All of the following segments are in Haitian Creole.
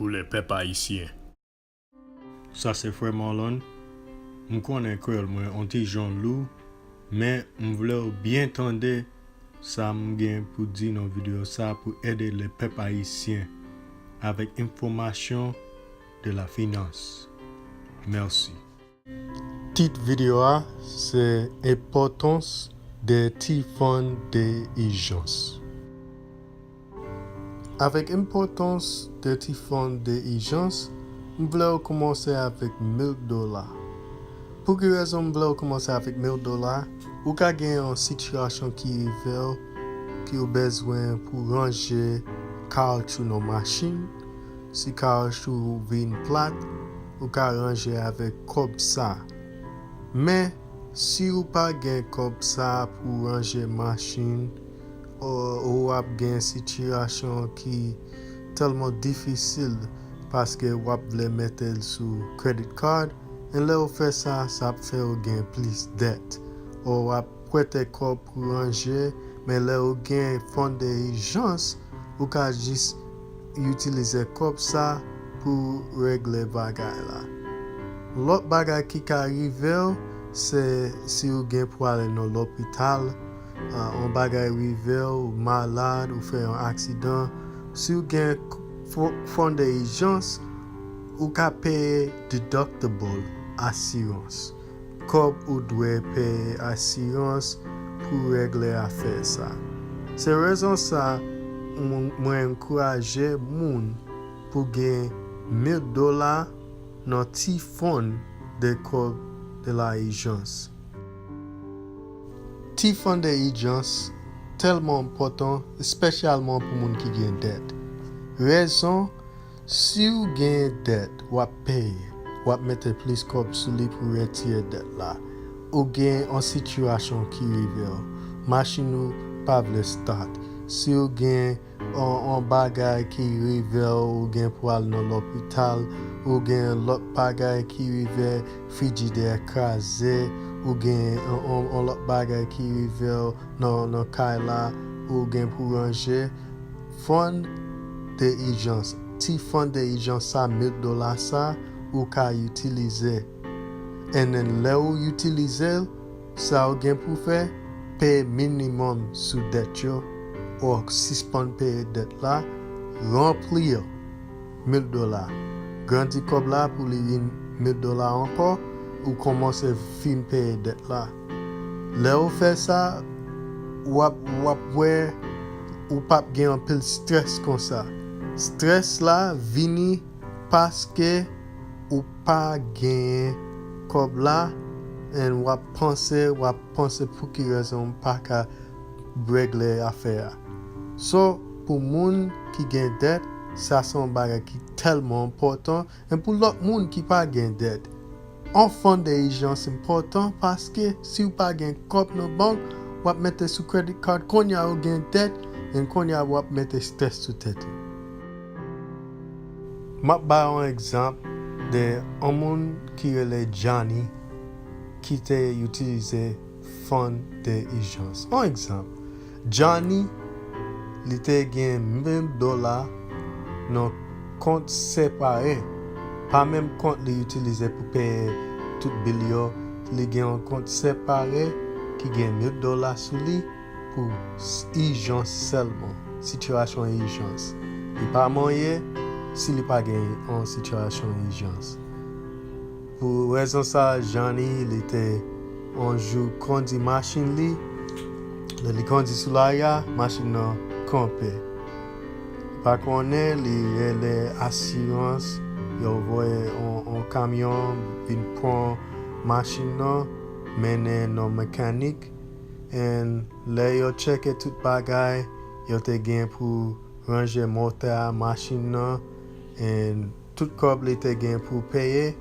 pou le pep ayisyen. Sa se frè Marlon? M konnen kreyòl mwen on ti jan lou men m vle w byen tande sa m gen pou di nan videyo sa pou ede le pèp ayisyen avèk enfòmasyon de la finans. Mèsi. Tit video a se Enpòtans de ti fon de ijans. Avèk enpòtans de ti fon de ijans, m vle w koumanse avèk 1000 dola. Pou ki rezon m vle w koumanse avèk 1000 dola? Ou ka gen yon sitiyasyon ki rive w ki ou bezwen pou ranje kawotchou nan machin, Si kaoch ou vin plat, ou ka ranje avèk kòb sa. Men, si ou pa gen kòb sa pou ranje machin ou ou ap gen sitiyasyon ki tèlman difisil paske ou ap vle mete l sou credit card, e lè ou fè sa, sa ap fè ou gen plis dèt ou ap. Prete kò pou ranje, men lè ou gen fon de ijans, ou ka jis itilize kòb sa pou regle bagay la. Lòt bagay ki ka rive w, se si ou gen pou ale nan lopital, yon bagay rive w, ou malad, ou fè yon aksidan, si ou gen fon de ijans, ou ka peye deductible asirans. Kòb ou dwe peye asirans pou regle afè sa. Se rezon sa mwen ankouraje moun pou gen mil dola nan ti fon de kòb de la ijans. Ti fon de ijans tèlman enpòtan espesyalman pou moun ki gen dèt. Rezon. Siw gen dèt wap peye wap mete plis kòb sou li pou retire dèt la ou gen on sitiyasyon ki rivew machin ou pa vle start siw gen on bagay ki rivew ou gen pou al nan lopital ou gen lòt bagay ki rive frijidè kraze ou gen on lòt bagay ki rivew nan kay la ou gen pou ranje Fon de ijans, Ti fon de ijans sa 1000 dola sa ou ka itilize and lè ou itilizel sa ou gen pou fè peye minimum sou dèt yo or sispann peye dèt la ranplir 1000 dola grandi kob la pou li vin 1000 dola ankò ou komanse fin peye dèt la. Lè ou fè sa, w ap w ap wè ou p ap gen anpil strès konsa. Strès la vini paske ou pa genyen kòb la and w ap panse w ap panse pou ki rezon m pa ka regle afè a. So pou moun ki gen dèt, sa se yon bagay ki tèlman enpòtan. En pou lòt moun ki pa gen dèt, on fon de ijans enpòtan paske siw pa gen kòb nan bank wap mete sou credit card konnya ou gen dèt en konnya wap mete stress sou tèt ou. Map bay on egzanp de on moun ki rele Johnny ki te utilize fon de ijans. On egzanp, Johnny li te gen 1000 dola nan kont separe, pa menm kont li itilize pou peye tout bil yo, li gen on kont separe ki gen 1000 dola sou li pou ijans sèlman, sitiyasyon ijans. Li pa marye si li pa gen on sitiyasyon ijans. Pou rezon sa a, Janny li te yon jou kondi machin li, lè li kondi sou lari a, machin nan kanpe. Li pa konnen, li rele asirans, yo voye yon kamyon vin pran machin nan, mennen nan mekanik, and lè yo tcheke tout bagay yo te gen pou ranje motè a machin nan, and. Tout kòb li te gen pou peye,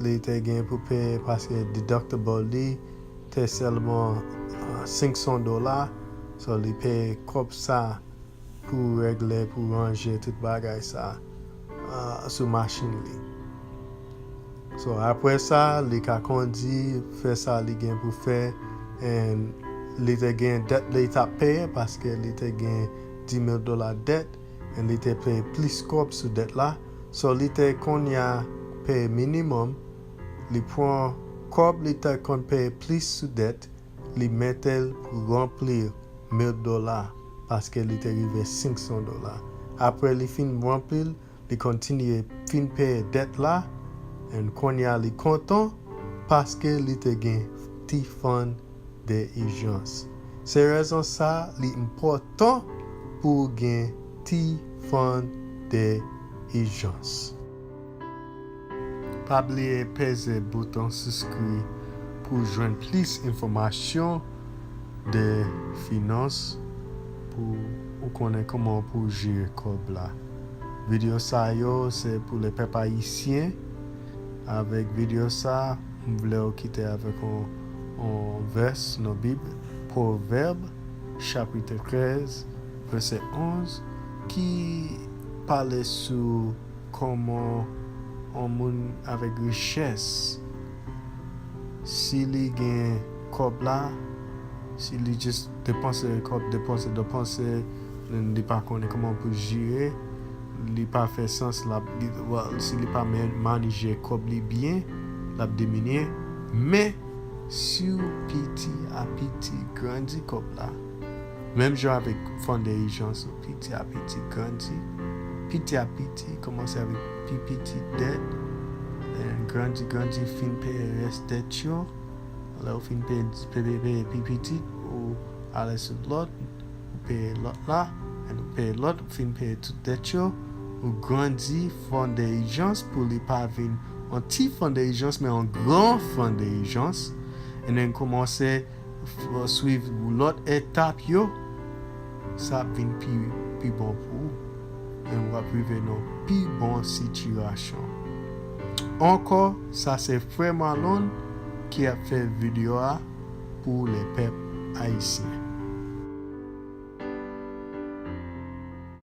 li te gen pou peye paske deductible li te sèlman 500 dola, so li peye kòb sa pou regle, pou ranje tout bagay sa sou machin li. So aprè sa li ka kondi, fè sa li gen pou fè and li te gen dèt li tap peye paske li te gen 10 mil dola dèt. and li te peye plis kòb sou dèt la so li te konnya peye minimum li pran kòb li te konn peye plis sou dèt li metel pou ranplir mil dola paske li te rive 500 dola aprè li fin ranplil li kontinye fin peye dèt la and konnya li kontan paske li te gen ti fon de ijans. Se rezon sa li enpòtan pou ou gen ti fon de ijans. Pa bliye peze bouton siskri pou w jwenn plis enfòmasyon de finans pou ou konnen kòman pou w jere kòb la. Video sa yo se pou le pèp ayisyen avèk video sa. M vlew kite avek on vès nan bib provèb chapitre 13 vese 11 ki pale sou koman on moun avek richès si li gen kob la si li just depanse kob depanse depanse li pa konnen koman poul jire. li pa fè sans lap si li pa manije kòb li byen lap diminye men siw piti a piti grandi kòb la menm jan avèk fon de ijans ou piti a piti grandi piti a piti kòmanse avèk pi piti dèt grandi grandi fin peye rès dèt yo lèw fin peye pi piti ou ale sou lòt. Ou peye lòt la, and ou peye lòt, ou fin peye tout dèt yo, ou grandi fon de ijans pou li pa vin on ti fon de ijans men on gran fon de ijans, and then koumanse swiv lòt etap yo, sa ap vin pi pi bon pou ou, and ou ap rive nan on pi bon sitirasyon. Ankò, sa se frè Marlon ki ap fè video a. pou le pep ayisyen.